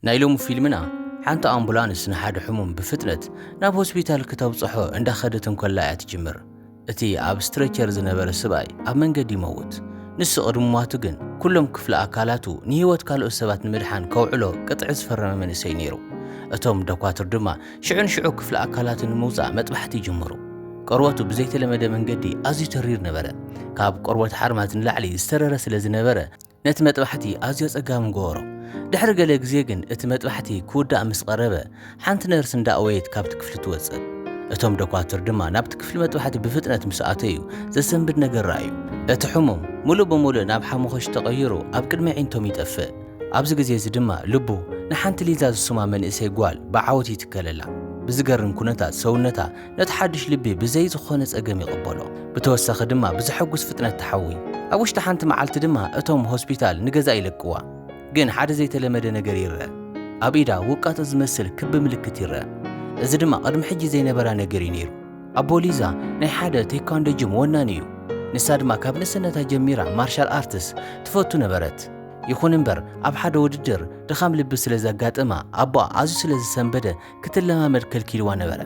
ናይ ሎሚ ፊልምና ሓንቲ ኣምቡላንስ ንሓደ ሕሙም ብፍጥነት ናብ ሆስፒታል ክተብጽሖ እንዳኸደት እንከላ እያ ትጅምር። እቲ ኣብ ስትሬቸር ዝነበረ ስብኣይ ኣብ መንገዲ ይመውት። ንሱ ቅድሚ ምሟቱ ግን ኩሎም ክፍሊ ኣካላቱ ንህይወት ካልኦት ሰባት ንምድሓን ከውዕሎ ቅጥዒ ዝፈረመ መንእሰይ ነይሩ። እቶም ደኳትር ድማ ሽዑ ንሽዑ ክፍሊ ኣካላቱ ንምውጻእ መጥባሕቲ ይጅምሩ። ቆርበቱ ብዘይተለመደ መንገዲ ኣዝዩ ተሪር ነበረ። ካብ ቆርበት ሓርማዝ ንላዕሊ ዝተረረ ስለ ዝነበረ፣ ነቲ መጥባሕቲ ኣዝዮ ኣጸጋሚ ገበሮ። ድሕሪ ገለ ግዜ ግን እቲ መጥባሕቲ ክውዳእ ምስ ቐረበ፣ ሓንቲ ነርስ እንዳ ኣወየት ካብቲ ክፍሊ ትወጽእ። እቶም ዶኳትር ድማ ናብቲ ክፍሊ መጥባሕቲ ብፍጥነት ምስ ኣተዩ፣ ዘሰንብድ ነገር ረኣዩ። እቲ ሕሙም ምሉእ ብምሉእ ናብ ሓሙኽሽቲ ተቐይሩ ኣብ ቅድሚ ኣዒንቶም ይጠፍእ። ኣብዚ ግዜ እዚ ድማ ልቡ ንሓንቲ ሊዛ ዝስማ መንእሰይ ጓል ብዓወት ይትከለላ። ብዝገርም ኩነታት ሰውነታ ነቲ ሓድሽ ልቢ ብዘይ ዝኾነ ጸገም ይቕበሎ። ብተወሳኺ ድማ ብዘሐጉስ ፍጥነት ትሓዊ። ኣብ ውሽጢ ሓንቲ መዓልቲ ድማ እቶም ሆስፒታል ንገዛእ ይለቅዋ። ግን ሓደ ዘይተለመደ ነገር ይርኣ። ኣብ ኢዳ ውቃጦ ዝመስል ክቢ ምልክት ይርኣ። እዚ ድማ ቅድሚ ሕጂ ዘይነበራ ነገር እዩ ነይሩ። ኣቦ ሊዛ ናይ ሓደ ቴኳንዶ ጅም ወናኒ እዩ። ንሳ ድማ ካብ ንእስነታ ጀሚራ ማርሻል ኣርትስ ትፈቱ ነበረት። ይኹን እምበር ኣብ ሓደ ውድድር ድኻም ልቢ ስለ ዘጋጠማ ኣቦኣ ኣዝዩ ስለ ዝሰንበደ ክትለማመድ ከልኪልዋ ነበረ።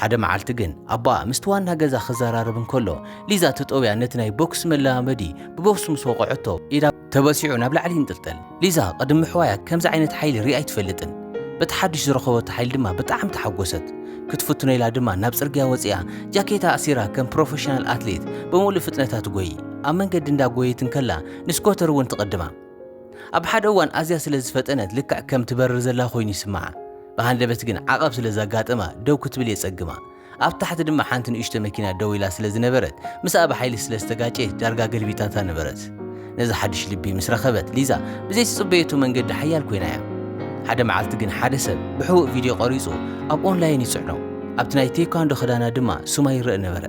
ሓደ መዓልቲ ግን ኣቦኣ ምስቲ ዋና ገዛ ክዘራረብ እንከሎ ሊዛ ተጠውያ ነቲ ናይ ቦክስ መለማመዲ ብቦክስ ምስ ወቕዐቶ ኢዳ ተበሲዑ ናብ ላዕሊ ይንጥልጠል። ሊዛ ቅድም ምሕዋያ ከምዚ ዓይነት ሓይሊ ሪኣ ኣይትፈልጥን። በቲ ሓድሽ ዝረኸበቶ ሓይሊ ድማ ብጣዕሚ ተሓጎሰት። ክትፍትኖ ኢላ ድማ ናብ ጽርግያ ወጺኣ ጃኬታ ኣሲራ ከም ፕሮፈሽናል ኣትሌት ብምሉእ ፍጥነታ ትጎዪ። ኣብ መንገዲ እንዳጎየት እንከላ ንስኮተር እውን ትቕድማ። ኣብ ሓደ እዋን ኣዝያ ስለ ዝፈጠነት ልክዕ ከም ትበርር ዘላ ኮይኑ ይስምዓ። ብሃንደበት ግን ዓቐብ ስለ ዘጋጠማ ደው ክትብል የጸግማ። ኣብ ታሕቲ ድማ ሓንቲ ንእሽቶ መኪና ደው ኢላ ስለ ዝነበረት ምስኣ ብሓይሊ ስለ ዝተጋጨየት ዳርጋ ገልቢጣታ ነበረት። ነዚ ሓድሽ ልቢ ምስ ረኸበት ሊዛ ብዘይ ትጽበየቶ መንገዲ ሓያል ኮይና እያ። ሓደ መዓልቲ ግን ሓደ ሰብ ብሕቡእ ቪድዮ ቀሪጹ ኣብ ኦንላይን ይጽዕኖ። ኣብቲ ናይ ቴኳንዶ ክዳና ድማ ሱማ ይረእ ነበረ።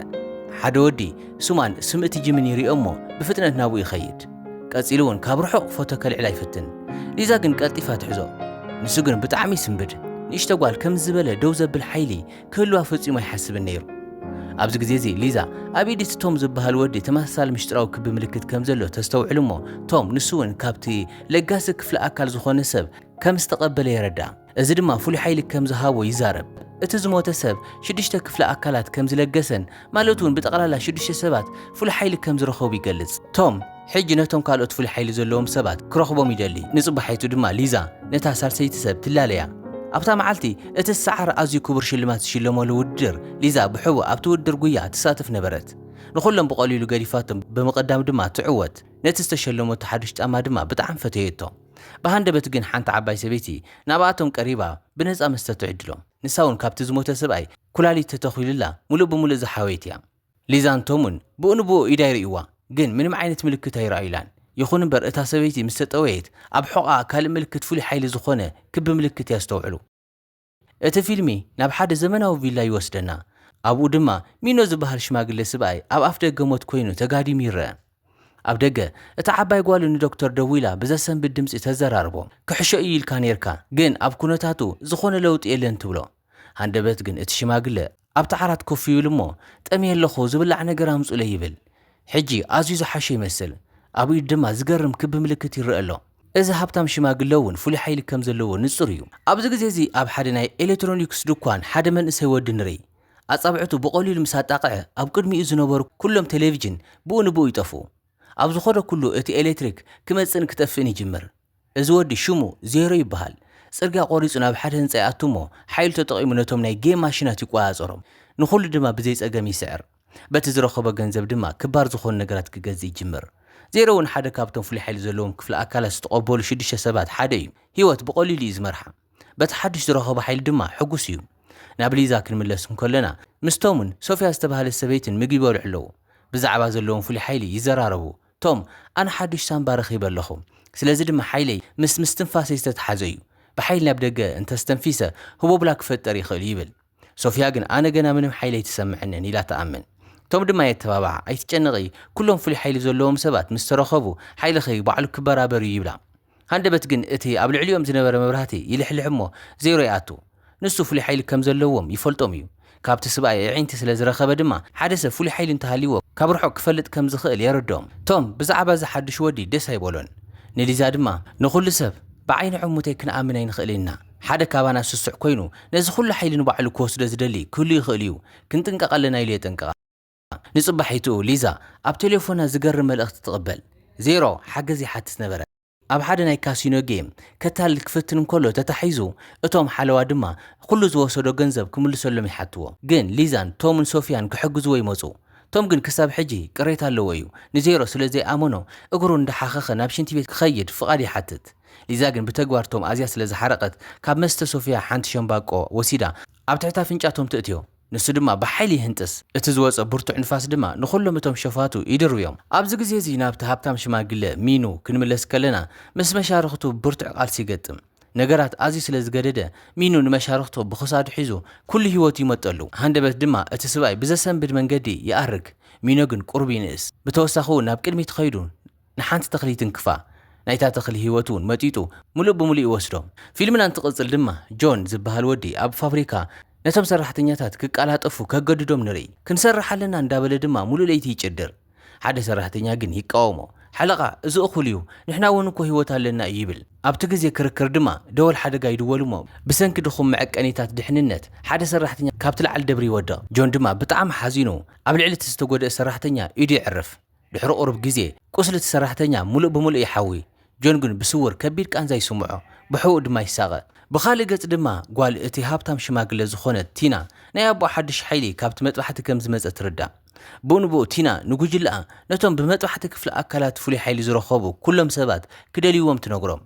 ሓደ ወዲ ሱማን ስም እቲ ጂምን ይሪኦ እሞ ብፍጥነት ናብኡ ይኸይድ። ቀጺሉ እውን ካብ ርሑቕ ፎቶ ከልዕላ ይፍትን። ሊዛ ግን ቀልጢፋ ትሕዞ። ንሱ ግን ብጣዕሚ ይስንብድ። ንእሽቶ ጓል ከምዚ ዝበለ ደው ዘብል ሓይሊ ክህልዋ ፈጺሙ ኣይሓስብን ነይሩ። ኣብዚ ግዜ እዚ ሊዛ ኣብ ኢድ'ቲ ቶም ዝበሃል ወዲ ተመሳሳሊ ምሽጥራዊ ክቢ ምልክት ከም ዘሎ ተስተውዕል እሞ ቶም ንሱ እውን ካብቲ ለጋሲ ክፍሊ ኣካል ዝኾነ ሰብ ከም ዝተቐበለ የረድኣ። እዚ ድማ ፍሉይ ሓይሊ ከም ዝሃቦ ይዛረብ። እቲ ዝሞተ ሰብ ሽዱሽተ ክፍሊ ኣካላት ከም ዝለገሰን ማለት እውን ብጠቕላላ ሽዱሽተ ሰባት ፍሉይ ሓይሊ ከም ዝረኸቡ ይገልጽ። ቶም ሕጂ ነቶም ካልኦት ፍሉይ ሓይሊ ዘለዎም ሰባት ክረኽቦም ይደሊ፣ ንጽባሒቱ ድማ ሊዛ ነታ ሳልሰይቲ ሰብ ትላለያ። ኣብታ መዓልቲ እቲ ዝሰዓረ ኣዝዩ ክቡር ሽልማት ዝሽለመሉ ውድድር፣ ሊዛ ብሕቡእ ኣብቲ ውድድር ጕያ ትሳተፍ ነበረት። ንዅሎም ብቐሊሉ ገዲፋቶም ብምቕዳም ድማ ትዕወት፣ ነቲ ዝተሸለመቶ ሓድሽ ጫማ ድማ ብጣዕሚ ፈተየቶ። ብሃንደበት ግን ሓንቲ ዓባይ ሰበይቲ ናብኣቶም ቀሪባ ብነጻ መስተ ትዕድሎም። ንሳ'ውን ካብቲ ዝሞተ ሰብኣይ ኩላሊት ተተኺሉላ ምሉእ ብምሉእ ዝሓወየት'ያ። ሊዛን ቶምን ብኡ ንብኡ ኢዳ ይርእይዋ፣ ግን ምንም ዓይነት ምልክት ኣይረኣዩላን። ይኹን'ምበር እታ ሰበይቲ ምስ ተጠወየት ኣብ ሕቖኣ ካልእ ምልክት ፍሉይ ሓይሊ ዝኾነ ክቢ ምልክት የስተውዕሉ። እቲ ፊልሚ ናብ ሓደ ዘመናዊ ቪላ ይወስደና፣ ኣብኡ ድማ ሚኖ ዝበሃል ሽማግለ ስብኣይ ኣብ ኣፍደገ ሞት ኰይኑ ተጋዲሙ ይርአ። ኣብ ደገ፣ እታ ዓባይ ጓሉ ንዶክተር ደዊላ ብዘሰንብድ ድምጺ ተዘራርቦ፣ ክሕሾ እዩ ኢልካ ኔርካ፣ ግን ኣብ ኵነታቱ ዝዀነ ለውጢ የለን ትብሎ። ሃንደበት ግን እቲ ሽማግለ ኣብቲ ዓራት ኮፍ ይብል እሞ ጠምየ ኣለኹ ዝብላዕ ነገር ኣምጹኡለይ ይብል። ሕጂ ኣዝዩ ዝሓሸ ይመስል፣ ኣብ ኢዱ ድማ ዝገርም ክቢ ምልክት ይረኣ ኣሎ። እዚ ሃብታም ሽማግለ እውን ፍሉይ ሓይሊ ከም ዘለዎ ንጹር እዩ። ኣብዚ ግዜ እዚ ኣብ ሓደ ናይ ኤሌክትሮኒክስ ድኳን ሓደ መንእሰይ ወዲ ንርኢ። ኣጻብዕቱ ብቐሊሉ ምስ ኣጣቕዐ ኣብ ቅድሚኡ ዝነበሩ ኩሎም ቴሌቪዥን ብኡ ንብኡ ይጠፍኡ። ኣብ ዝኸዶ ኩሉ እቲ ኤሌክትሪክ ክመጽእን ክጠፍእን ይጅምር። እዚ ወዲ ሽሙ ዜሮ ይበሃል። ጽርግያ ቆሪጹ ናብ ሓደ ህንጻ ይኣቱ እሞ ሓይሉ ተጠቒሙ ነቶም ናይ ጌም ማሽናት ይቆጻጸሮም። ንኹሉ ድማ ብዘይ ጸገም ይስዕር። በቲ ዝረኸቦ ገንዘብ ድማ ክባር ዝኾኑ ነገራት ክገዝእ ይጅምር። ዜሮ እውን ሓደ ካብቶም ፍሉይ ሓይሊ ዘለዎም ክፍለ ኣካላት ዝተቐበሉ ሽዱሽተ ሰባት ሓደ እዩ። ህይወት ብቐሊሉ እዩ ዝመርሓ። በቲ ሓዱሽ ዝረኸቦ ሓይሊ ድማ ሕጉስ እዩ። ናብ ሊዛ ክንምለስ እንከሎና ምስ ቶምን ሶፍያ ዝተባህለት ሰበይትን ምግቢ ይበልዑ ኣለዉ። ብዛዕባ ዘለዎም ፍሉይ ሓይሊ ይዘራረቡ። ቶም፣ ኣነ ሓዱሽ ሳንባ ረኺበ ኣለኹ፣ ስለዚ ድማ ሓይለይ ምስ ምስትንፋሰይ ዝተተሓዘ እዩ። ብሓይሊ ናብ ደገ እንተ ኣስተንፊሰ ህቦብላ ክፈጥር ይኽእል'ዩ ይብል። ሶፍያ ግን ኣነ ገና ምንም ሓይሊ ኣይተሰምዐንን ኢላ ትኣምን። ቶም ድማ የተባብዓ፣ ኣይትጨነቒ፣ ኩሎም ፍሉይ ሓይሊ ዘለዎም ሰባት ምስ ተረኸቡ ሓይልኺ ባዕሉ ክበራበር እዩ ይብላ። ሃንደበት ግን እቲ ኣብ ልዕሊኦም ዝነበረ መብራህቲ ይልሕልሕ እሞ ዜሮ ይኣቱ። ንሱ ፍሉይ ሓይሊ ከም ዘለዎም ይፈልጦም እዩ። ካብቲ ስብኣይ ኣዒንቲ ስለ ዝረኸበ ድማ ሓደ ሰብ ፍሉይ ሓይሊ እንተሃልይዎ ካብ ርሑቕ ክፈልጥ ከም ዝኽእል የረድኦም። ቶም ብዛዕባ እዚ ሓዱሽ ወዲ ደስ ኣይበሎን። ንሊዛ ድማ ንኹሉ ሰብ ብዓይኒ ዕሙተይ ክንኣምን ኣይንኽእልን ኢና። ሓደ ካባና ስሱዕ ኮይኑ ነዚ ኹሉ ሓይሊ ንባዕሉ ክወስዶ ዝደሊ ክህሉ ይኽእል'ዩ። ክንጥንቀቕ ኣለና ኢሉ የጠንቅቓ። ንጽባሒቱ ሊዛ ኣብ ቴሌፎና ዝገርም መልእኽቲ ትቕበል። ዜሮ ሓገዝ ይሓትት ነበረ። ኣብ ሓደ ናይ ካሲኖ ጌም ከታልል ክፍትን እንከሎ ተታሒዙ፣ እቶም ሓለዋ ድማ ዅሉ ዝወሰዶ ገንዘብ ክምልሰሎም ይሓትዎ። ግን ሊዛን ቶምን ሶፍያን ክሕግዝዎ ይመጹ። ቶም ግን ክሳብ ሕጂ ቅሬታ ኣለዎ እዩ። ንዜሮ ስለ ዘይኣመኖ እግሩ እንዳሓኸኸ ናብ ሽንቲ ቤት ክኸይድ ፍቓድ ይሓትት። ሊዛ ግን ብተግባር ቶም ኣዝያ ስለ ዝሓረቐት ካብ መስተ ሶፍያ ሓንቲ ሸምባቆ ወሲዳ ኣብ ትሕቲ ኣፍንጫ ቶም ትእትዮ። ንሱ ድማ ብሓይሊ ይህንጥስ፣ እቲ ዝወጸ ብርቱዕ ንፋስ ድማ ንዅሎም እቶም ሸፋቱ ይድርብዮም። ኣብዚ ግዜ እዚ ናብቲ ሃብታም ሽማግለ፣ ሚኑ፣ ክንምለስ ከለና፣ ምስ መሻርኽቱ ብርቱዕ ቃልሲ ይገጥም። ነገራት ኣዝዩ ስለ ዝገደደ፣ ሚኑ ንመሻርኽቱ ብኽሳዱ ሒዙ ኵሉ ህይወቱ ይመጠሉ፣ ሃንደበት ድማ እቲ ስብኣይ ብዘሰንብድ መንገዲ ይኣርግ። ሚኖ ግን ቍሩብ ይንእስ፣ ብተወሳኺውን ናብ ቅድሚት ኸይዱ፣ ንሓንቲ ተኽሊ ይትንክፋ፣ ናይታ ተኽሊ ህይወት እውን መጢጡ ምሉእ ብምሉእ ይወስዶ። ፊልምና እንትቕጽል ድማ ጆን ዝበሃል ወዲ ኣብ ፋብሪካ ነቶም ሰራሕተኛታት ክቀላጠፉ ከገድዶም ንርኢ። ክንሰርሕ ኣለና እንዳበለ ድማ ምሉእ ለይቲ ይጭድር። ሓደ ሰራሕተኛ ግን ይቃወሞ። ሓለቓ እዚ እኹል እዩ፣ ንሕና እውን እኮ ህይወት ኣለና እዩ ይብል። ኣብቲ ግዜ ክርክር ድማ ደወል ሓደጋ ይድወል እሞ ብሰንኪ ድኹም መዐቀኒታት ድሕንነት ሓደ ሰራሕተኛ ካብቲ ልዓሊ ደብሪ ይወድቕ። ጆን ድማ ብጣዕሚ ሓዚኑ ኣብ ልዕሊ እቲ ዝተጎድኣ ሰራሕተኛ ኢዱ የዕርፍ። ድሕሪ ቁሩብ ግዜ፣ ቁስሊ እቲ ሰራሕተኛ ምሉእ ብምሉእ ይሓዊ። ጆን ግን ብስዉር ከቢድ ቃንዛ ይስምዖ፣ ብሕቡእ ድማ ይሳቐ። ብኻልእ ገጽ ድማ፣ ጓል እቲ ሃብታም ሽማግለ ዝዀነት ቲና፣ ናይ ኣቦኣ ሓድሽ ሓይሊ ካብቲ መጥባሕቲ ከም ዝመጸ ትርዳእ። ብኡንብኡ ቲና ንጕጅለኣ፣ ነቶም ብመጥባሕቲ ክፍሊ ኣካላት ፍሉይ ሓይሊ ዝረኸቡ ኵሎም ሰባት ክደልይዎም ትነግሮም።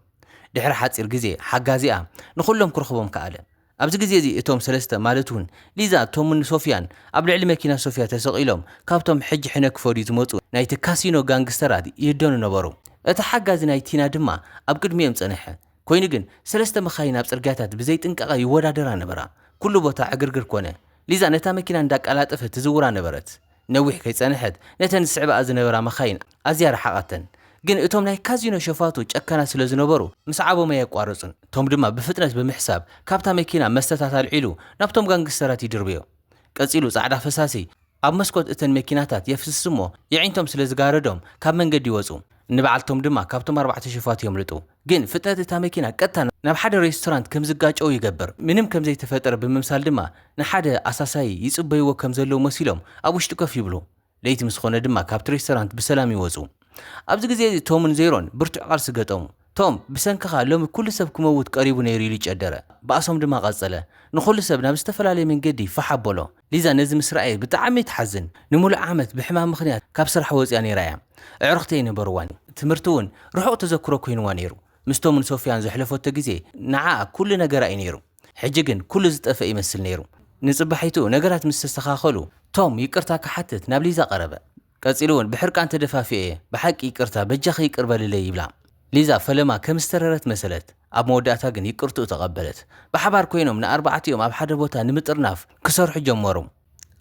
ድሕሪ ሓጺር ግዜ፣ ሓጋዚኣ ንዅሎም ክረኽቦም ከኣለ። ኣብዚ ግዜ እዚ እቶም ሰለስተ ማለት ውን ሊዛ፣ ቶምን ሶፍያን ኣብ ልዕሊ መኪና ሶፍያ ተሰቒሎም ካብቶም ሕጂ ሕነ ክፈድዩ ዝመጹ ናይቲ ካሲኖ ጋንግስተራት ይህደኑ ነበሩ። እቲ ሓጋዚ ናይ ቲና ድማ ኣብ ቅድሚኦም ጸንሐ። ኮይኑ ግን ሰለስተ መኻይን ኣብ ጽርግያታት ብዘይ ጥንቃቐ ይወዳደራ ነበራ። ኩሉ ቦታ ዕግርግር ኮነ። ሊዛ ነታ መኪና እንዳቃላጠፈት ትዝውራ ነበረት። ነዊሕ ከይጸንሐት ነተን ዝስዕባኣ ዝነበራ መኻይን ኣዝያ ረሓቓተን። ግን እቶም ናይ ካዚኖ ሸፋቱ ጨካናት ስለ ዝነበሩ ምስዓቦም ኣየቋረጹን። ቶም ድማ ብፍጥነት ብምሕሳብ ካብታ መኪና መስተታት ኣልዒሉ ናብቶም ጋንግስተራት ይድርብዮ። ቀጺሉ ጻዕዳ ፈሳሲ ኣብ መስኮት እተን መኪናታት የፍስስ'ሞ የዒንቶም ስለ ዝጋረዶም ካብ መንገዲ ይወጹ። ንበዓል ቶም ድማ ካብቶም ኣርባዕተ ሸፋቱ የምልጡ። ግን ፍጥነት እታ መኪና ቀጥታ ናብ ሓደ ሬስቶራንት ከም ዝጋጨዉ ይገብር፣ ምንም ከም ዘይተፈጠረ ብምምሳል ድማ ንሓደ ኣሳሳዪ ይጽበይዎ ከም ዘለዉ መሲሎም ኣብ ውሽጢ ኮፍ ይብሉ። ለይቲ ምስ ዀነ ድማ ካብቲ ሬስቶራንት ብሰላም ይወጹ። ኣብዚ ግዜ እዚ ቶምን ዜሮን ብርቱዕ ቃልሲ ገጠሙ። ቶም፣ ብሰንክኻ ሎሚ ኵሉ ሰብ ክመውት ቀሪቡ ነይሩ ኢሉ ጨደረ፣ ባእሶም ድማ ቀጸለ። ንዅሉ ሰብ ናብ ዝተፈላለየ መንገዲ ፋሕ ኣበሎ። ሊዛ ነዚ ምስ ረኣየት ብጣዕሚ ትሓዝን። ንሙሉእ ዓመት ብሕማም ምኽንያት ካብ ስራሕ ወጺኣ ነይራ እያ። ኣዕሩኽቲ ኣይነበርዋን። ትምህርቲ እውን ርሑቕ ተዘክሮ ኮይንዋ ነይሩ። ምስቶምን ሶፍያን ዘሕለፈቶ ግዜ ንዓኣ ኩሉ ነገራ እዩ ነይሩ። ሕጂ ግን ኩሉ ዝጠፍአ ይመስል ነይሩ። ንጽባሒቱ ነገራት ምስ ተስተኻኸሉ ቶም ይቅርታ ክሓትት ናብ ሊዛ ቀረበ። ቀጺሉ እውን ብሕርቃን ተደፋፊኤ እየ፣ ብሓቂ ይቅርታ፣ በጃኺ ይቅር በልለይ ይብላ። ሊዛ ፈለማ ከም ዝተረረት መሰለት፣ ኣብ መወዳእታ ግን ይቅርትኡ ተቐበለት። ብሓባር ኮይኖም ንኣርባዕቲኦም ኣብ ሓደ ቦታ ንምጥርናፍ ክሰርሑ ጀመሩ።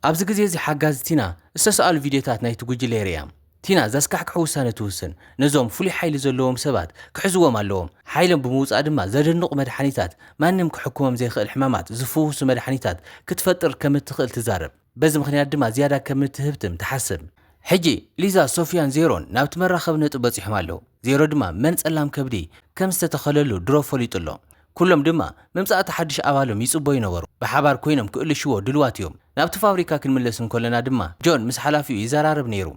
ኣብዚ ግዜ እዚ ሓጋዚ ቲና ዝተሰኣሉ ቪድዮታት ናይቲ ጉጅለ የርእያ። ቲና ዘስካሕክሕ ውሳነ ትውስን፣ ነዞም ፍሉይ ሓይሊ ዘለዎም ሰባት ክሕዝዎም ኣለዎም፣ ሓይሎም ብምውጻእ ድማ ዘደንቑ መድሓኒታት፣ ማንም ክሕክሞም ዘይክእል ሕማማት ዝፍውሱ መድሓኒታት ክትፈጥር ከም እትኽእል ትዛረብ። በዚ ምኽንያት ድማ ዝያዳ ከም እትህብትም ትሓስብ። ሕጂ ሊዛ፣ ሶፍያን ዜሮን ናብቲ መራኸቢ ነጥቢ በጺሖም ኣለዉ። ዜሮ ድማ መን ጸላም ከብዲ ከም ዝተተኸለሉ ድሮ ፈሊጡ ኣሎ። ኩሎም ድማ ምምጻእ'ቲ ሓድሽ ኣባሎም ይጽበዩ ነበሩ። ብሓባር ኰይኖም ክእልሽዎ ድሉዋት እዮም። ናብቲ ፋብሪካ ክንምለስ እንከሎና ድማ ጆን ምስ ሓላፊኡ ይዘራረብ ነይሩ።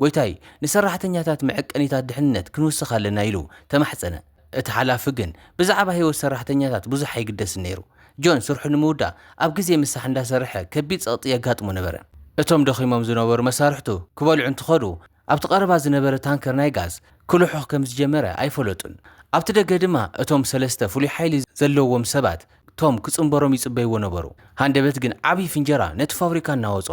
ጐይታይ፣ ንሰራሕተኛታት መዐቀኒታት ድሕንነት ክንውስኽ ኣለና ኢሉ ተማሕጸነ። እቲ ሓላፊ ግን ብዛዕባ ህይወት ሰራሕተኛታት ብዙሕ ኣይግደስን ነይሩ። ጆን ስርሑ ንምውዳእ ኣብ ግዜ ምሳሕ እንዳሰርሐ ከቢድ ጸቕጢ የጋጥሞ ነበረ። እቶም ደኺሞም ዝነበሩ መሳርሕቱ ክበልዑ እንትኸዱ፣ ኣብቲ ቀረባ ዝነበረ ታንከር ናይ ጋዝ ክልሑኽ ከም ዝጀመረ ኣይፈለጡን። ኣብቲ ደገ ድማ እቶም ሰለስተ ፍሉይ ሓይሊ ዘለዎም ሰባት ቶም ክጽንበሮም ይጽበይዎ ነበሩ። ሃንደበት ግን ዓቢ ፍንጀራ ነቲ ፋብሪካ እናወጾ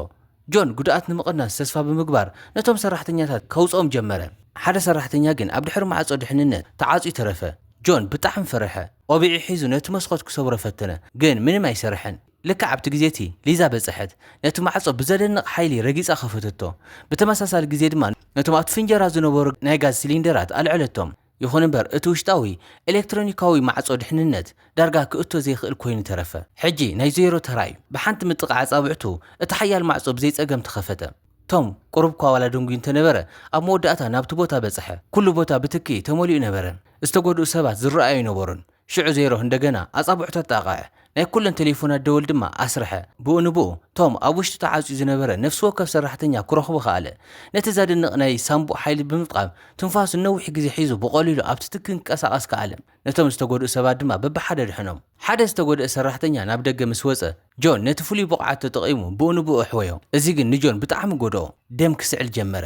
ጆን ጉድኣት ንምቕናስ ተስፋ ብምግባር ነቶም ሰራሕተኛታት ከውጽኦም ጀመረ። ሓደ ሰራሕተኛ ግን ኣብ ድሕሪ ማዕጾ ድሕንነት ተዓጽዩ ተረፈ። ጆን ብጣዕሚ ፈርሐ። ቆቢዑ ሒዙ ነቲ መስኮት ክሰብሮ ፈተነ፣ ግን ምንም ኣይሰርሕን። ልክዕ ኣብቲ ግዜ እቲ፣ ሊዛ በጸሐት። ነቲ ማዕጾ ብዘደንቕ ሓይሊ ረጊጻ ከፈተቶ። ብተመሳሳሊ ግዜ ድማ ነቶም ኣብቲ ፍንጀራ ዝነበሩ ናይ ጋዝ ሲሊንደራት ኣልዐለቶም። ይኹን እምበር እቲ ውሽጣዊ ኤለክትሮኒካዊ ማዕጾ ድሕንነት ዳርጋ ክእቶ ዘይክእል ኮይኑ ተረፈ። ሕጂ ናይ ዞይሮ ተራ'ዩ። ብሓንቲ ምጥቓዕ ኣጻብዕቱ እቲ ሓያል ማዕጾ ብዘይ ጸገም ተኸፈተ። ቶም ቁሩብ'ኳ ዋላ ደንጉዩ እንተነበረ፣ ኣብ መወዳእታ ናብቲ ቦታ በጽሐ። ኩሉ ቦታ ብትኪ ተመሊኡ ነበረ። ዝተጎድኡ ሰባት ዝረኣዩ ኣይነበሩን። ሽዑ ዜሮ እንደገና ኣጻብዑ ተጣቕዐ፣ ናይ ኩለን ተሌፎናት ደወል ድማ ኣስርሐ። ብኡ ንብኡ፣ ቶም ኣብ ውሽጢ ተዓጽዩ ዝነበረ ነፍሲ ወከፍ ሰራሕተኛ ክረኽቦ ከኣለ። ነቲ ዘደንቕ ናይ ሳንቡእ ሓይሊ ብምጥቓም፣ ትንፋሱ ንነዊሕ ግዜ ሒዙ ብቐሊሉ ኣብቲ ትኪ ክንቀሳቐስ ከኣለ። ነቶም ዝተጎድኡ ሰባት ድማ በብሓደ ኣድሐኖም። ሓደ ዝተጎድኣ ሰራሕተኛ ናብ ደገ ምስ ወጸ፣ ጆን ነቲ ፍሉይ ብቕዓቱ ተጠቒሙ ብኡ ንብኡ ኣሕወዮ። እዚ ግን ንጆን ብጣዕሚ ጎድኦ። ደም ክስዕል ጀመረ።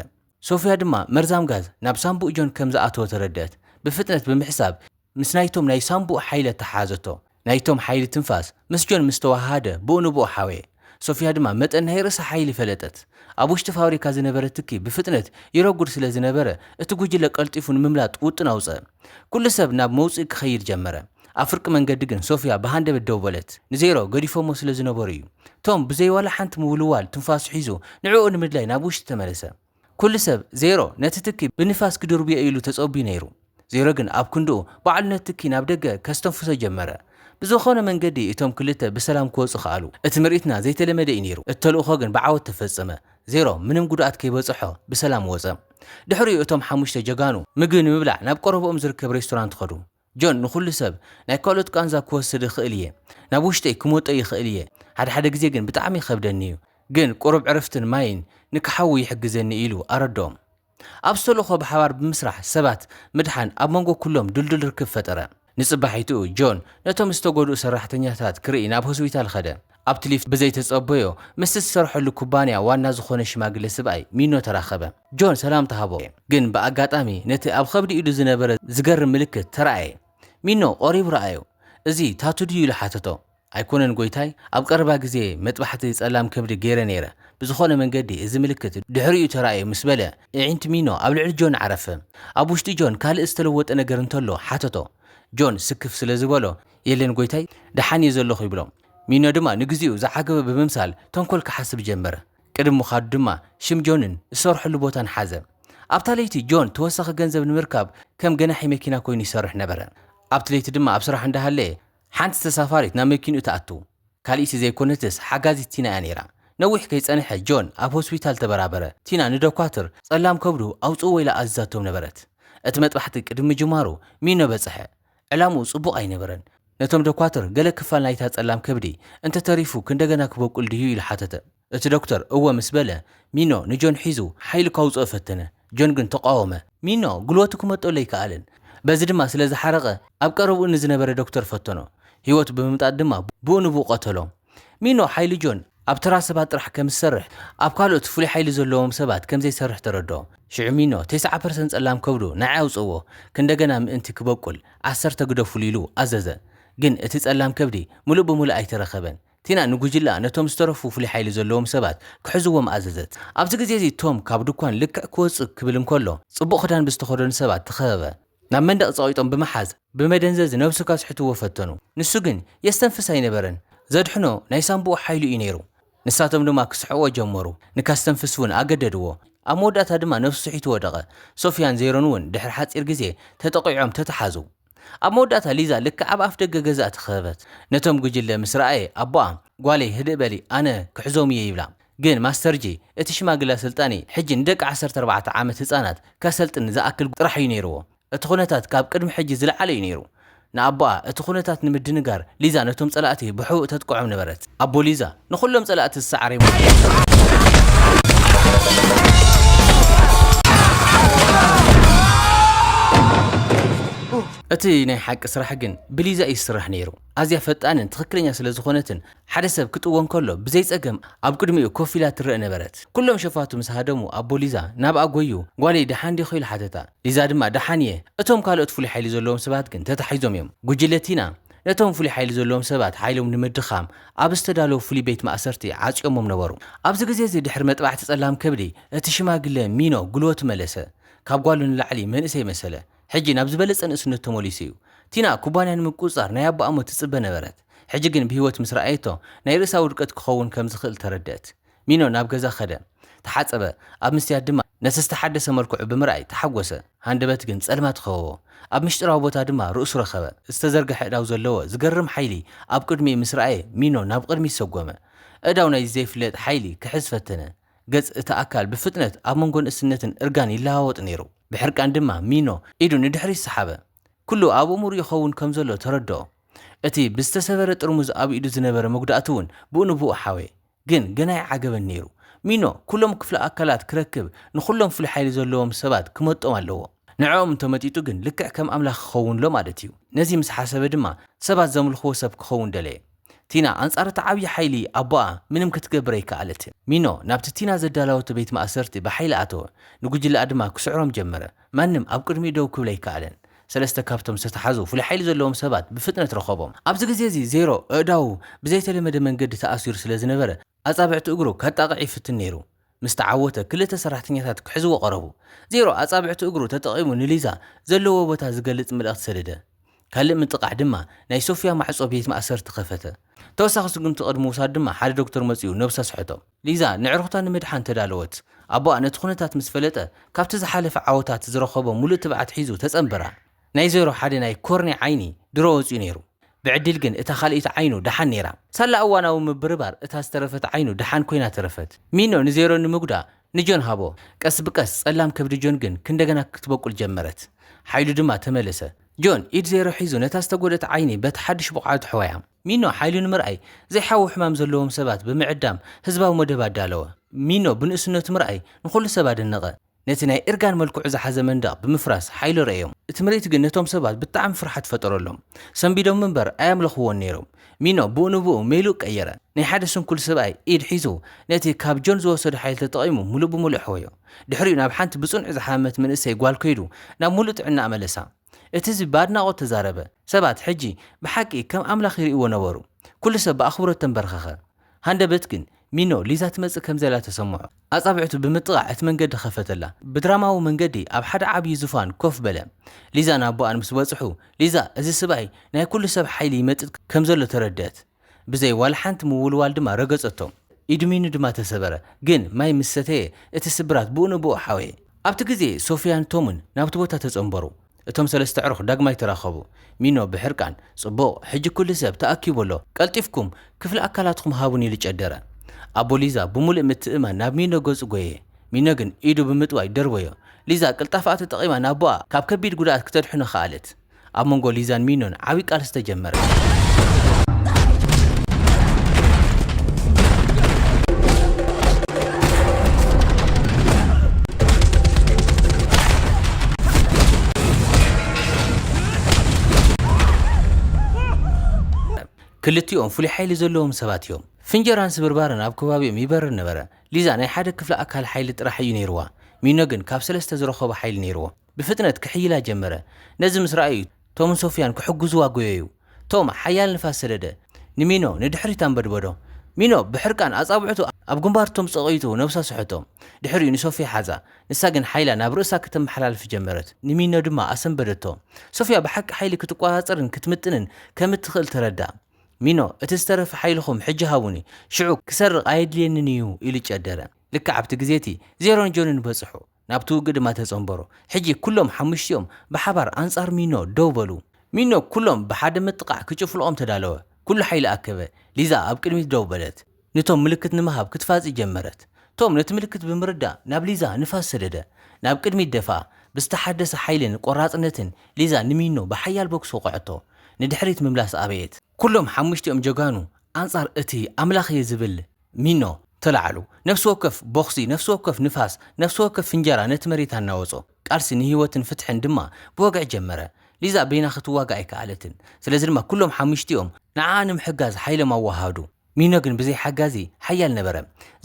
ሶፍያ ድማ መርዛም ጋዝ ናብ ሳንቡእ ጆን ከም ዝኣተወ ተረድኣት። ብፍጥነት ብምሕሳብ፣ ምስ ናይቶም ናይ ሳንቡእ ሓይሊ ኣተሓሓዘቶ። ናይቶም ሓይሊ ትንፋስ ምስ ጆን ምስ ተወሃሃደ ብኡ ንብኡ ሓወየ። ሶፍያ ድማ መጠን ናይ ርእሳ ሓይሊ ፈለጠት። ኣብ ውሽጢ ፋብሪካ ዝነበረ ትኪ ብፍጥነት ይረጉድ ስለ ዝነበረ እቲ ጉጅለ ቀልጢፉ ንምምላጥ ውጥን ኣውጸኣ። ኩሉ ሰብ ናብ መውጽኢ ክኸይድ ጀመረ። ኣብ ፍርቂ መንገዲ ግን ሶፍያ ብሃንደበት ደው በለት። ንዜሮ ገዲፎሞ ስለ ዝነበሩ'ዩ። ቶም ብዘይ ዋላ ሓንቲ ምውልዋል ትንፋሱ ሒዙ ንዕኡ ንምድላይ ናብ ውሽጢ ተመለሰ። ኩሉ ሰብ ዜሮ ነቲ ትኪ ብንፋስ ኪድርብዮ ኢሉ ተጸብዩ ነይሩ። ዜሮ ግን ኣብ ክንድኡ ባዕሉ ነቲ ትኪ ናብ ደገ ከስተንፍሶ ጀመረ። ብዝኾነ መንገዲ እቶም ክልተ ብሰላም ክወጹ ከኣሉ። እቲ ምርኢትና ዘይተለመደ እዩ ነይሩ፣ እቲ ተልእኾ ግን ብዓወት ተፈጸመ። ዜሮ ምንም ጉድኣት ከይበጸሖ ብሰላም ወጸ። ድሕሪኡ እቶም ሓሙሽተ ጀጋኑ ምግቢ ንምብላዕ ናብ ቀረብኦም ዝርከብ ሬስቶራንት ከዱ። ጆን ንኹሉ ሰብ ናይ ካልኦት ቃንዛ ክወስድ እኽእል እየ ናብ ውሽጠይ ክመጦ ይኽእል እየ ሓደ ሓደ ግዜ ግን ብጣዕሚ ይኸብደኒ እዩ ግን ቁሩብ ዕረፍትን ማይን ንክሓዊ ይሕግዘኒ ኢሉ ኣረድኦም ኣብ ስተሎኾ ብሓባር ብምስራሕ ሰባት ምድሓን ኣብ መንጎ ኩሎም ድልዱል ርክብ ፈጠረ ንጽባሒትኡ ጆን ነቶም ዝተጎድኡ ሰራሕተኛታት ክርኢ ናብ ሆስቢታል ኸደ ኣብቲ ሊፍት ብዘይተጸበዮ ምስቲ ዝሰርሐሉ ኩባንያ ዋና ዝኾነ ሽማግለ ስብኣይ ሚኖ ተራኸበ። ጆን ሰላምታ ሃቦ፣ ግን ብኣጋጣሚ ነቲ ኣብ ኸብዲ ኢዱ ዝነበረ ዝገርም ምልክት ተራኣየ። ሚኖ ቐሪቡ ረኣዮ። እዚ ታቱ ድዩ? ኢሉ ሓተቶ። ኣይኮነን ጎይታይ፣ ኣብ ቐረባ ግዜ መጥባሕቲ ጸላም ከብዲ ገይረ ነይረ፣ ብዝኾነ መንገዲ እዚ ምልክት ድሕሪኡ ተራእዩ ምስ በለ እዒንቲ ሚኖ ኣብ ልዕሊ ጆን ዓረፈ። ኣብ ውሽጢ ጆን ካልእ ዝተለወጠ ነገር እንተሎ ሓተቶ። ጆን ስክፍ ስለ ዝበሎ የለን ጎይታይ፣ ደሓን እየ ዘለኹ ይብሎ። ሚኖ ድማ ንግዜኡ ዝዓገበ ብምምሳል ተንኮል ክሓስብ ጀመረ። ቅድሚ ምኻዱ ድማ ሽም ጆንን ዝሰርሐሉ ቦታን ሓዘ። ኣብታ ለይቲ ጆን ተወሳኺ ገንዘብ ንምርካብ ከም ገናሒ መኪና ኮይኑ ይሰርሕ ነበረ። ኣብቲ ለይቲ ድማ ኣብ ስራሕ እንዳሃለየ ሓንቲ ተሳፋሪት ናብ መኪንኡ ትኣቱ። ካልኢቲ ዘይኮነትስ ሓጋዚት ቲና እያ ነይራ። ነዊሕ ከይጸንሐ ጆን ኣብ ሆስፒታል ተበራበረ። ቲና ንደኳትር ጸላም ከብዱ ኣውጽእዎ ኢላ ኣዚዛቶም ነበረት። እቲ መጥባሕቲ ቅድሚ ምጅማሩ ሚኖ በጽሐ። ዕላምኡ ጽቡቕ ኣይነበረን። ነቶም ደኳትር ገለ ክፋል ናይታ ጸላም ከብዲ እንተ ተሪፉ ክንደገና ክበቁል ድዩ? ኢሉ ሓተተ። እቲ ዶክተር እወ ምስ በለ፣ ሚኖ ንጆን ሒዙ ሓይሉ ካውጽኦ ፈተነ። ጆን ግን ተቓወመ። ሚኖ ጉልበቱ ክመጦ ለይከኣለን። በዚ ድማ ስለ ዝሓረቐ ኣብ ቀረብኡ ንዝነበረ ዶክተር ፈተኖ። ህይወቱ ብምምጣጥ ድማ ብኡ ንብኡ ቀተሎ። ሚኖ ሓይሊ ጆን ኣብ ተራ ሰባት ጥራሕ ከም ዝሰርሕ ኣብ ካልኦት ፍሉይ ሓይሊ ዘለዎም ሰባት ከም ዘይሰርሕ ተረድኦ ሽዑ ሚኖ ተስዓ ፐርሰንት ጸላም ከብዱ ንዓይ ኣውጽእዎ ክንደገና ምእንቲ ክበቁል ዓሰርተ ግደፉሉ ኢሉ ኣዘዘ ግን እቲ ጸላም ከብዲ ምሉእ ብምሉእ ኣይተረከበን ቲና ንጉጅለኣ ነቶም ዝተረፉ ፍሉይ ሓይሊ ዘለዎም ሰባት ክሕዝዎም ኣዘዘት ኣብዚ ግዜ እዚ ቶም ካብ ድኳን ልክዕ ክወጽእ ክብል እንከሎ ጽቡቕ ክዳን ብዝተኸደኑ ሰባት ተኸበበ ናብ መንደቕ ጸቒጦም ብምሓዝ ብመደንዘዚ ነብሱ ከስሕትዎ ፈተኑ። ንሱ ግን የስተንፍስ ኣይነበረን። ዘድሕኖ ናይ ሳንቡኡ ሓይሊ እዩ ነይሩ። ንሳቶም ድማ ክስሕቕዎ ጀመሩ፣ ንከስተንፍስ እውን ኣገደድዎ። ኣብ መወዳእታ ድማ ነብሱ ስሒቱ ወደቐ። ሶፍያን ዜሮን እውን ድሕሪ ሓጺር ግዜ ተጠቒዖም ተተሓዙ። ኣብ መወዳእታ ሊዛ ልክዕ ኣብ ኣፍደገ ገዝኣ ተኸበበት። ነቶም ጕጅለ ምስ ረኣየ ኣቦኣ፣ ጓለይ ህድእ በሊ ኣነ ክሕዞም እየ ይብላ። ግን ማስተር ጂ እቲ ሽማግለ ስልጣኒ ሕጂ ንደቂ ዓሰርተ ኣርባዕተ ዓመት ህጻናት ከሰልጥን ዝኣክል ጥራሕ እዩ ነይርዎ። እቲ ኩነታት ካብ ቅድሚ ሕጂ ዝለዓለ እዩ ነይሩ። ንኣቦኣ እቲ ኩነታት ንምድንጋር ሊዛ ነቶም ጸላእቲ ብሕቡእ ተጥቅዖም ነበረት። ኣቦ ሊዛ ንኹሎም ጸላእቲ ዝሰዓሬሞ ነይሩ። እቲ ናይ ሓቂ ስራሕ ግን ብሊዛ እዩ ዝስራሕ ነይሩ። ኣዝያ ፈጣንን ትኽክለኛ ስለ ዝኾነትን ሓደ ሰብ ክጥወ እንከሎ ብዘይ ጸገም ኣብ ቅድሚኡ ኮፍ ኢላ ትረእ ነበረት። ኩሎም ሸፋቱ ምስ ሃደሙ ኣቦ ሊዛ ናብኣ ጐዩ፣ ጓለይ ደሓን ዲኺ? ኢሉ ሓተታ። ሊዛ ድማ ደሓን እየ፣ እቶም ካልኦት ፍሉይ ሓይሊ ዘለዎም ሰባት ግን ተታሒዞም እዮም። ጕጅለ ቲና ነቶም ፍሉይ ሓይሊ ዘለዎም ሰባት ሓይሎም ንምድኻም ኣብ ዝተዳለወ ፍሉይ ቤት ማእሰርቲ ዓጽዮሞም ነበሩ። ኣብዚ ግዜ እዚ ድሕሪ መጥባሕቲ ጸላም ከብዲ እቲ ሽማግለ ሚኖ ጕልበቱ መለሰ። ካብ ጓሉ ንላዕሊ መንእሰይ መሰለ። ሕጂ ናብ ዝበለጸ ንእስነቱ ተመሊሱ እዩ። ቲና ኩባንያ ንምቍጽጻር ናይ ኣቦኣ ሞት ትጽበ ነበረት። ሕጂ ግን ብህይወት ምስ ረኣየቶ፣ ናይ ርእሳ ውድቀት ክኸውን ከም ዝኽእል ተረድኣት። ሚኖ ናብ ገዛ ከደ። ተሓጸበ። ኣብ መስትያት ድማ ነቲ ዝተሓደሰ መልክዑ ብምርኣይ ተሓጐሰ። ሃንደበት ግን ጸልማት ከበቦ። ኣብ ምሽጢራዊ ቦታ ድማ ርእሱ ረኸበ። ዝተዘርግሐ ኣእዳው ዘለዎ ዝገርም ሓይሊ ኣብ ቅድሚኡ ምስ ረኣየ፣ ሚኖ ናብ ቕድሚት ሰጐመ። ኣእዳው ናይዚ ዘይፍለጥ ሓይሊ ክሕዝ ፈተነ። ገጽ እቲ ኣካል ብፍጥነት ኣብ መንጎ ንእስነትን እርጋን ይለዋወጥ ነይሩ። ብሕርቃን ድማ ሚኖ ኢዱ ንድሕሪት ሰሓበ። ኵሉ ኣብኡ ምሩእ ይኸውን ከም ዘሎ ተረድኦ። እቲ ብዝተሰበረ ጥርሙዝ ኣብ ኢዱ ዝነበረ መጉዳእቲ እውን ብኡ ንብኡ ሓወየ። ግን ገና ይዓገበኒ ነይሩ። ሚኖ፣ ኩሎም ክፍለ ኣካላት ክረክብ ንኹሎም ፍሉይ ሓይሊ ዘለዎም ሰባት ክመጦም ኣለዎ። ንዕኦም እንተመጢጡ ግን ልክዕ ከም ኣምላኽ ክኸውንሎ ማለት እዩ። ነዚ ምስ ሓሰበ ድማ ሰባት ዘምልኽዎ ሰብ ክኸውን ደለየ። ቲና ኣንጻር እቲ ዓብዪ ሓይሊ ኣቦኣ ምንም ክትገብር ኣይከኣለትን። ሚኖ ናብቲ ቲና ዘዳለወቶ ቤት ማእሰርቲ ብሓይሊ ኣተወ፣ ንጉጅለኣ ድማ ክስዕሮም ጀመረ። ማንም ኣብ ቅድሚኡ ደው ክብል ኣይከኣለን። ሰለስተ ካብቶም ዝተታሕዙ ፍሉይ ሓይሊ ዘለዎም ሰባት ብፍጥነት ረኸቦም። ኣብዚ ግዜ እዚ ዜሮ ኣእዳዉ ብዘይተለመደ መንገዲ ተኣሲሩ ስለ ዝነበረ ኣጻብዕቲ እግሩ ከጣቕዕ ይፍትን ነይሩ። ምስ ተዓወተ ክልተ ሰራሕተኛታት ክሕዝዎ ቀረቡ። ዜሮ ኣጻብዕቲ እግሩ ተጠቒሙ ንሊዛ ዘለዎ ቦታ ዝገልጽ መልእኽቲ ሰደደ። ካልእ ምጥቓዕ ድማ ናይ ሶፍያ ማዕጾ ቤት ማእሰርቲ ከፈተ። ተወሳኺ ስጉምቲ ቅድሚ ምውሳዱ ድማ ሓደ ዶክተር መጺኡ ነብሱ ኣስሐቶ። ሊዛ ነዕሩኽታ ንምድሓን ተዳለወት። ኣቦኣ ነቲ ኩነታት ምስ ፈለጠ፣ ካብቲ ዝሓለፈ ዓወታት ዝረኸቦ ምሉእ ትብዓት ሒዙ ተጸንበራ። ናይ ዜሮ ሓደ ናይ ኮርንያ ዓይኒ ድሮ ወጺኡ ነይሩ። ብዕድል ግን እታ ካልኣይቲ ዓይኑ ደሓን ነይራ። ሳላ እዋናዊ ምብርባር እታ ዝተረፈት ዓይኑ ደሓን ኮይና ተረፈት። ሚኖ ንዜሮ ንምጉዳእ ንጆን ሃቦ። ቀስ ብቀስ ጸላም ከብዲ ጆን ግን ክንደገና ክትበቁል ጀመረት። ሓይሉ ድማ ተመለሰ። ጆን ኢድ ዜሮ ሒዙ ነታ ዝተጎድኣት ዓይኒ በቲ ሓድሽ ብቕዓቱ ሐወያ። ሚኖ ሓይሉ ንምርኣይ ዘይሓዊ ሕማም ዘለዎም ሰባት ብምዕዳም ህዝባዊ መደብ ኣዳለወ። ሚኖ ብንእስነቱ ምርኣይ ንኹሉ ሰብ ኣደነቐ። ነቲ ናይ እርጋን መልክዑ ዝሓዘ መንደቕ ብምፍራስ ሓይሉ ረኣዮም። እቲ ምርኢት ግን ነቶም ሰባት ብጣዕሚ ፍርሓት ፈጠረሎም። ሰንቢዶም እምበር ኣየምለኽዎን ነይሮም። ሚኖ ብኡ ንብኡ ሜልኡ ቀየረ። ናይ ሓደ ስንኩል ሰብኣይ ኢድ ሒዙ ነቲ ካብ ጆን ዝወሰዶ ሓይሊ ተጠቒሙ ምሉእ ብምሉእ ኣሕወዮ። ድሕሪኡ ናብ ሓንቲ ብጽኑዕ ዝሓመመት መንእሰይ ጓል ከይዱ ናብ ምሉእ ጥዕናኣ መለሳ። እቲ ህዝቢ ብኣድናቖት ተዛረበ። ሰባት ሕጂ ብሓቂ ከም ኣምላኽ ይርእይዎ ነበሩ። ኵሉ ሰብ ብኣኽብሮት ተምበርኸኸ። ሃንደበት ግን፣ ሚኖ፣ ሊዛ ትመጽእ ከም ዘላ ተሰምዖ። ኣጻብዕቱ ብምጥቓዕ እቲ መንገዲ ኸፈተላ። ብድራማዊ መንገዲ ኣብ ሓደ ዓብዪ ዙፋን ኮፍ በለ። ሊዛን ኣቦኣን ምስ በጽሑ፣ ሊዛ፣ እዚ ስብኣይ ናይ ኵሉ ሰብ ሓይሊ ይመጥጥ ከም ዘሎ ተረድእት። ብዘይ ዋላ ሓንቲ ምውልዋል ድማ ረገጸቶም። ኢዱ ሚኑ ድማ ተሰበረ፣ ግን ማይ ምስ ሰተየ እቲ ስብራት ብኡ ንብኡ ሓወየ። ኣብቲ ግዜ ሶፍያን ቶምን ናብቲ ቦታ ተጸንበሩ። እቶም ሰለስተ ኣዕሩኽ ዳግማይ ተራኸቡ። ሚኖ ብሕርቃን፣ ጽቡቕ፣ ሕጂ ኵሉ ሰብ ተኣኪቡ ኣሎ፣ ቀልጢፍኩም ክፍሊ ኣካላትኩም ሃቡኒ ኢሉ ጨደረ። ኣቦ ሊዛ ብምሉእ ምትእምማን ናብ ሚኖ ገጹ ጐየየ። ሚኖ ግን ኢዱ ብምጥዋይ ደርበዮ። ሊዛ ቅልጣፈኣ ተጠቒማ ንኣቦኣ ካብ ከቢድ ጕድኣት ክተድሕኖ ከኣለት። ኣብ መንጎ ሊዛን ሚኖን ዓብዪ ቃልሲ ተጀመረ። ክልቲኦም ፍሉይ ሓይሊ ዘለዎም ሰባት እዮም ፍንጀራን ስብርባርን ኣብ ከባቢኦም ይበርር ነበረ ሊዛ ናይ ሓደ ክፍሊ ኣካል ሓይሊ ጥራሕ እዩ ነይርዋ ሚኖ ግን ካብ ሰለስተ ዝረኸቦ ሓይሊ ነይርዎ ብፍጥነት ክሕይላ ጀመረ። ነዚ ምስ ረኣዩ፣ ቶምን ሶፍያን ክሕግዙዋ ጐየዩ። ቶም ሓያል ንፋስ ሰደደ። ንሚኖ ንድሕሪት ኣንበድበዶ። ሚኖ ብሕርቃን ኣጻብዕቱ ኣብ ግንባር ቶም ጸቒጡ ነብሳ ሰሐቶ። ድሕሪኡ ንሶፍያ ሓዛ። ንሳ ግን ሓይላ ናብ ርእሳ ከተመሓላልፍ ጀመረት። ንሚኖ ድማ ኣሰንበደቶ። ሶፍያ ብሓቂ ሓይሊ ክትቈጻጸርን ክትምጥንን ከም እትኽእል ተረድኣ። ሚኖ፣ እቲ ዝተረፈ ሓይልኹም ሕጂ ሃቡኒ። ሽዑ ክሰርቕ ኣየድልየንን እዩ፣ ኢሉ ጨደረ። ልክዕ ኣብቲ ግዜ እቲ፣ ዜሮን ጆንን በጽሑ። ናብቲ ውግእ ድማ ተጸንበሩ። ሕጂ ኩሎም ሓሙሽቲኦም ብሓባር ኣንጻር ሚኖ ደው በሉ። ሚኖ ኩሎም ብሓደ ምጥቓዕ ክጭፍልቖም ተዳለወ። ኩሉ ሓይሊ ኣከበ። ሊዛ ኣብ ቅድሚት ደው በለት። ንቶም ምልክት ንምሃብ ክትፋጺ ጀመረት። ቶም ነቲ ምልክት ብምርዳእ ናብ ሊዛ ንፋስ ሰደደ። ናብ ቅድሚት ደፍኣ። ብዝተሓደሰ ሓይልን ቆራጽነትን ሊዛ ንሚኖ ብሓያል ቦክስ ወቕዐቶ። ንድሕሪት ምምላስ ኣበየት። ኩሎም ሓሙሽቲኦም ጀጋኑ ኣንጻር እቲ ኣምላኽ'የ ዝብል ሚኖ ተላዕሉ። ነፍሲ ወከፍ ቦኽሲ፣ ነፍሲ ወከፍ ንፋስ፣ ነፍሲ ወከፍ ፍንጀራ ነቲ መሬት ኣናወጾ። ቃልሲ ንህይወትን ፍትሕን ድማ ብወግዒ ጀመረ። ሊዛ በይና ክትዋጋእ ኣይከኣለትን። ስለዚ ድማ ኩሎም ሓሙሽቲኦም ንዓኣ ንምሕጋዝ ሓይሎም ኣወሃሃዱ። ሚኖ ግን ብዘይ ሓጋዚ ሓያል ነበረ።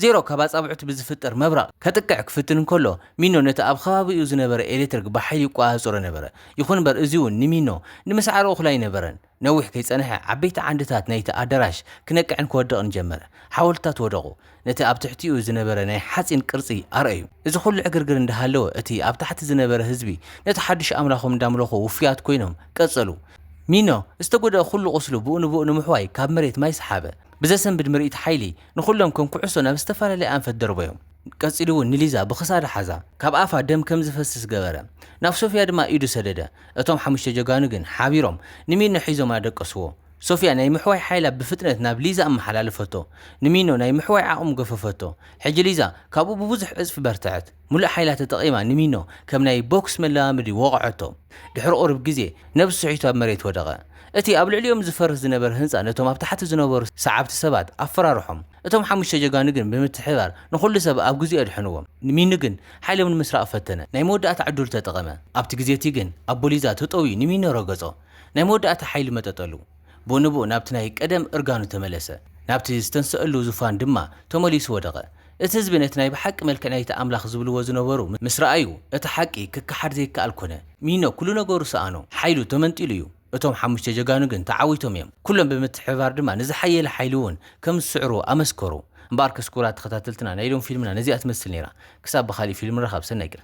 ዜሮ ካብ ኣጻብዕቱ ብዝፍጠር መብረቕ ከጥቅዕ ክፍትን እንከሎ፣ ሚኖ ነቲ ኣብ ኸባቢኡ ዝነበረ ኤሌክትሪክ ብሓይሊ ይቆጻጸሮ ነበረ። ይኹን'ምበር እዚ'ውን ንሚኖ ንምስዓር እኹል ኣይነበረን። ነዊሕ ከይጸንሐ ዓበይቲ ዓንድታት ናይቲ ኣደራሽ ክነቅዕን ክወድቕን ጀመረ። ሓወልትታት ወደቑ፣ ነቲ ኣብ ትሕቲኡ ዝነበረ ናይ ሓጺን ቅርጺ ኣርኣዩ። እዚ ኹሉ ዕግርግር እንዳሃለወ እቲ ኣብ ታሕቲ ዝነበረ ህዝቢ ነቲ ሓዱሽ ኣምላኾም እንዳምለኹ ውፉያት ኮይኖም ቀጸሉ። ሚኖ ዝተጎድኣ ኹሉ ቁስሉ ብኡ ንብኡ ንምሕዋይ ካብ መሬት ማይ ሰሓበ። ብዘሰንብድ ምርኢት ሓይሊ ንኹሎም ከም ኩዕሶ ናብ ዝተፈላለየ ኣንፈት ደርበዮም። ቀጺሉ'ውን ንሊዛ ብኽሳዳ ሓዛ ካብ ኣፋ ደም ከም ዝፈስስ ገበረ። ናብ ሶፍያ ድማ ኢዱ ሰደደ። እቶም ሓሙሽተ ጀጋኑ ግን ሓቢሮም ንሚኖ ሒዞም ኣደቀስዎ። ሶፍያ ናይ ምሕዋይ ሓይላ ብፍጥነት ናብ ሊዛ ኣመሓላለፈቶ። ንሚኖ ናይ ምሕዋይ ዓቕሙ ገፈፈቶ። ሕጂ ሊዛ ካብኡ ብብዙሕ ዕጽፊ በርትዐት። ምሉእ ሓይላ ተጠቒማ ንሚኖ ከም ናይ ቦክስ መለማመዲ ወቕዐቶ። ድሕሪ ቁሩብ ግዜ ነብሱ ስሒቱ ኣብ መሬት ወደቐ። እቲ ኣብ ልዕሊኦም ዝፈርስ ዝነበረ ህንጻ ነቶም ኣብ ታሕቲ ዝነበሩ ሰዓብቲ ሰባት ኣፈራርሖም። እቶም ሓሙሽተ ጀጋኑ ግን ብምትሕብባር ንኹሉ ሰብ ኣብ ግዜኡ ኣድሐንዎም። ንሚኒ ግን ሓይሎም ንምስራቕ ፈተነ። ናይ መወዳእታ ዕድሉ ተጠቐመ። ኣብቲ ግዜቲ ግን ኣቦ ሊዛ ተጠውዩ ንሚኒ ረገጾ። ናይ መወዳእታ ሓይሊ መጠጠሉ። ብኡ ንብኡ ናብቲ ናይ ቀደም እርጋኑ ተመለሰ። ናብቲ ዝተንሰእሉ ዙፋን ድማ ተመሊሱ ወደቐ። እቲ ህዝቢ ነቲ ናይ ብሓቂ መልክዕ ናይቲ ኣምላኽ ዝብልዎ ዝነበሩ ምስ ረኣዩ እቲ ሓቂ ክከሓድ ዘይከኣል ኮነ። ሚኖ ኩሉ ነገሩ ሰኣኖ። ሓይሉ ተመንጢሉ እዩ። እቶም ሓሙሽተ ጀጋኑ ግን ተዓዊቶም እዮም። ኩሎም ብምትሕብባር ድማ ንዝሓየለ ሓይሊ እውን ከም ዝስዕሩ ኣመስከሩ። እምበኣርከስ ክቡራት ተኸታተልትና ናይ ሎሚ ፊልምና ነዚኣ ትመስል ነይራ። ክሳብ ብኻሊእ ፊልም ንራኸብ ሰናይ ቀን።